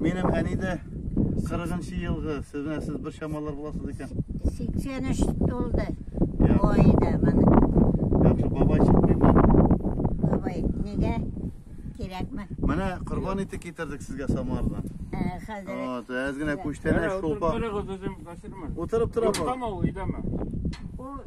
Минем әни дә 40 елгы, сез менә сез бер чамалар буласыз икән. 83 тулды. Ой да менә. Яхшы бабай чыкмыймы? Бабай, нигә? Кирәкме? Менә корбан ите китердек сезгә Самардан. Э, хәзер. Вот, әз генә күчтәнә шулпа. Утырып тора бу. Утырып тора бу. Утырып тора бу.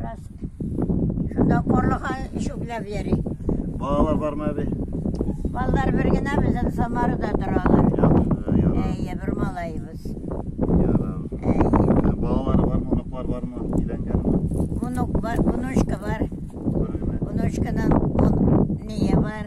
Раз. Шунда карлыга чүпләп йөри. Балалар бармы әби? Балалар бер генә безнең Самарада торалар. Яхшы, яра. Әйе, бер малаебыз. Яра. Әйе. Балалар бармы, оныклар бармы, өйләнгәнме? Онук бар, онучка бар. Бер генә. Онучканың он- ние бар.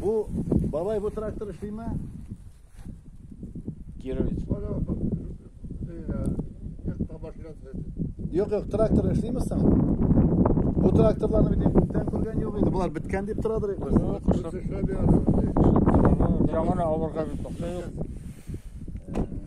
Бу бабай бу трактор эшлиме? Кировец. Юк, юк, трактор эшлиме соң? Бу тракторларны бит күптән күргән юк иде. Булар биткән дип торадыр инде. Яңа авырга бит. Юк.